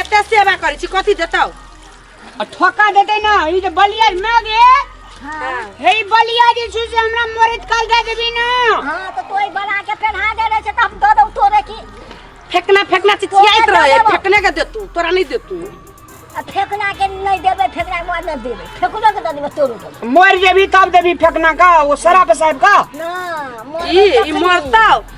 एते सेवा करै छी कथी देतौ आ ठोका देते ना ई जे बलिया माग हे हे ई बलिया जे छै से हमरा मरद काल दे देबी ना हाँ तो तोय बना के पहना दे रहे छे तो हम दे दो तोरे की फेकना फेकना चिचियाइत तोरा रहे देबो। फेकने के देतू तोरा नहीं देतू आ फेकना के नहीं देबे फेकना के बाद नहीं देबे फेकनो के दे देबे तोरो के देबे। मर जेबी तब देबी फेकना का वो शराब साहब का ना मोर ई ई मरतौ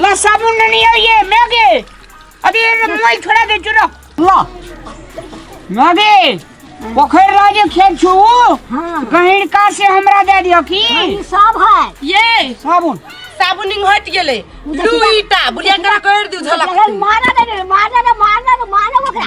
ला साबुन नहीं है ये मैगे अरे ये मैं छोड़ा दे चुरा ला मैगे पोखर राजे खेत छु हाँ। कहीं का से हमरा दे दियो की ई सब है ये साबुन साबुनिंग हट गेले लू ईटा बुढ़िया करा कर दियो झलक मारा ना मारा ना मारा ना मारा ओकरा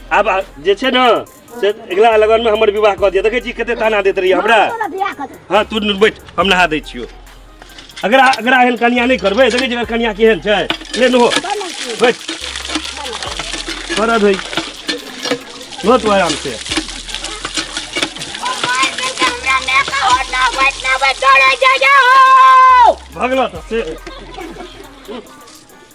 आब आ- जे छै ने से अगिला लगनमे हमर विवाह कऽ दिअ देखै छी कते ताना दैत रहियै हमरा तोरा बियाह कऽ दे। हाँ तू न- बैठ हम नहा दै छियो अगर आ- अगर एहन कनिया नहि करबै देखै छी अगर कनिया केहन छै ले नो बड़ लड़की। बैठ करब है नो तू आराम से भगला तऽ से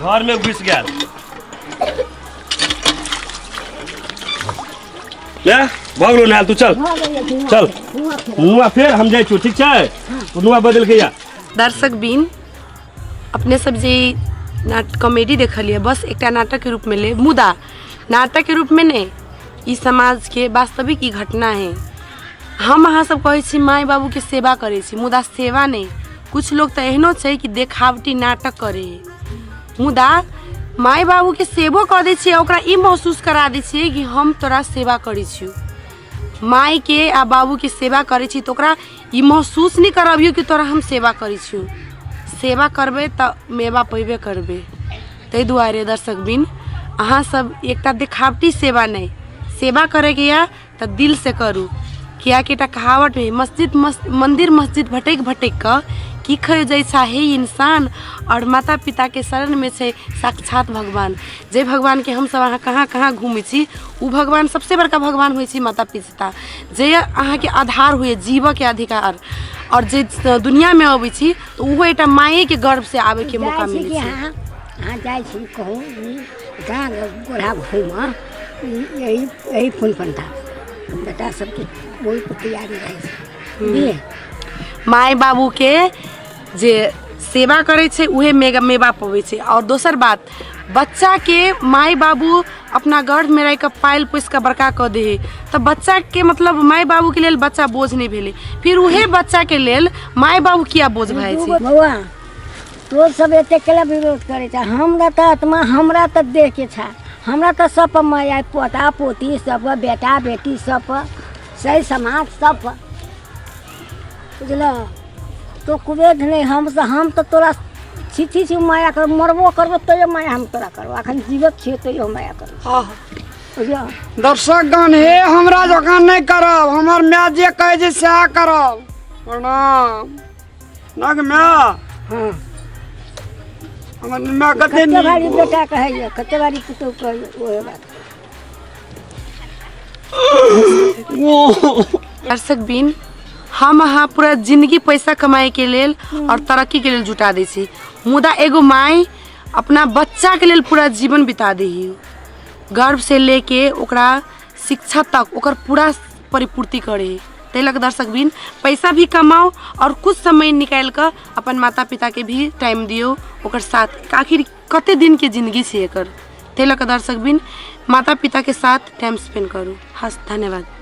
घर में घुस गया ले भग लो नहाल तू चल चल नुआ फेर हम जाए छू ठीक छै तू नुआ बदल के या दर्शक बीन अपने सब जे ई नाट कॉमेडी देखलिए बस एकटा नाटक के रूप में ले मुदा नाटक के रूप में ने ई समाज के वास्तविक ई घटना है हम अहाँ सब कहै छी माय बाबू के सेवा करै छी मुदा सेवा नहि कुछ लोग तऽ एहनो छै कि देखावटी नाटक करे मुदा माय बाबूके सेवो कऽ दै छियै ओकरा ई महसूस करा दै छियै कि हम तोरा सेवा करै छियौ मायके आ बाबूके सेवा करै छी तऽ ओकरा ई महसूस नहि करबियौ कि तोरा हम सेवा करै छियौ सेवा करबै तऽ मेवा पयबे करबै ताहि दुआरे दर्शकबिन अहाँसभ एकटा देखावटी सेवा नहि सेवा करयके यए तऽ दिल से करू कियाकि एकटा कहावत है मस्जिद मस, मंदिर मस्जिद भटक भटक कऽ की खयो जैसा हे इंसान और माता पिता के शरण में छै साक्षात भगवान जे भगवान के हम सब अहाँ कहाँ कहाँ घूमै छी ओ भगवान सबसे बड़का भगवान होइ छै माता पिता जे अहाँ के आधार हुए जीवऽ के अधिकार और जे दुनिया में अबै छी तऽ ओहो एकटा माये के गर्भ से आबे के मौका जाइ छी मिलै कि छै अहाँ अहाँ जाइ छी कहू ई माय बाबू के जे सेवा करै छै उहे मेगा मेवा पबै छै आओर दोसर बात बच्चा के माय बाबू अपना गर्भ में रह के पायल पोस के बड़का कऽ दे है तऽ बच्चा के मतलब माय बाबू के लेल बच्चा बोझ नहि भेलै फिर उहे बच्चा के लेल माय बाबू किया बोझ भए छै बौआ तो सब एते केला विरोध करे छा हमरा त आत्मा हमरा त देह के छा हमरा त सब पर माया है, पोता पोती सब पर, बेटा बेटी सब पर, सही समाज सब पर। बुझल तो कुबेद नहीं हम से हम तो तोरा छिथी छी माया कर मरबो करबो तैयो माया हम तोरा करबो अखन जीवत छियो तैयो हम माया करबो आह, बुझल दर्शकगण हे हमरा जकाँ नहि करब हमर माय जे कहै छै सएह करब प्रणाम नग में हाँ हमर में कते कते नीक भारी बेटा कहैया कते भारी पुतहु कहैया ओहे बात दर्शक बिन हम अहाँ पूरा जिंदगी पैसा कमाए के लेल और तरक्की के लेल जुटा दै छी मुदा एगो माई अपना बच्चा के लेल पूरा जीवन बिता दै गर्भ से लेके ओकरा शिक्षा तक ओकर पूरा परिपूर्ति करे है ताहि लऽ कऽ दर्शक बिन पैसा भी कमाओ और कुछ समय निकालि कऽ अपन माता पिता के भी टाइम दियो ओकर साथ आखिर कते दिन के जिंदगी छै एकर ताहि लऽ कऽ दर्शक बिन माता पिता के साथ टाइम स्पेंड करू हस धन्यवाद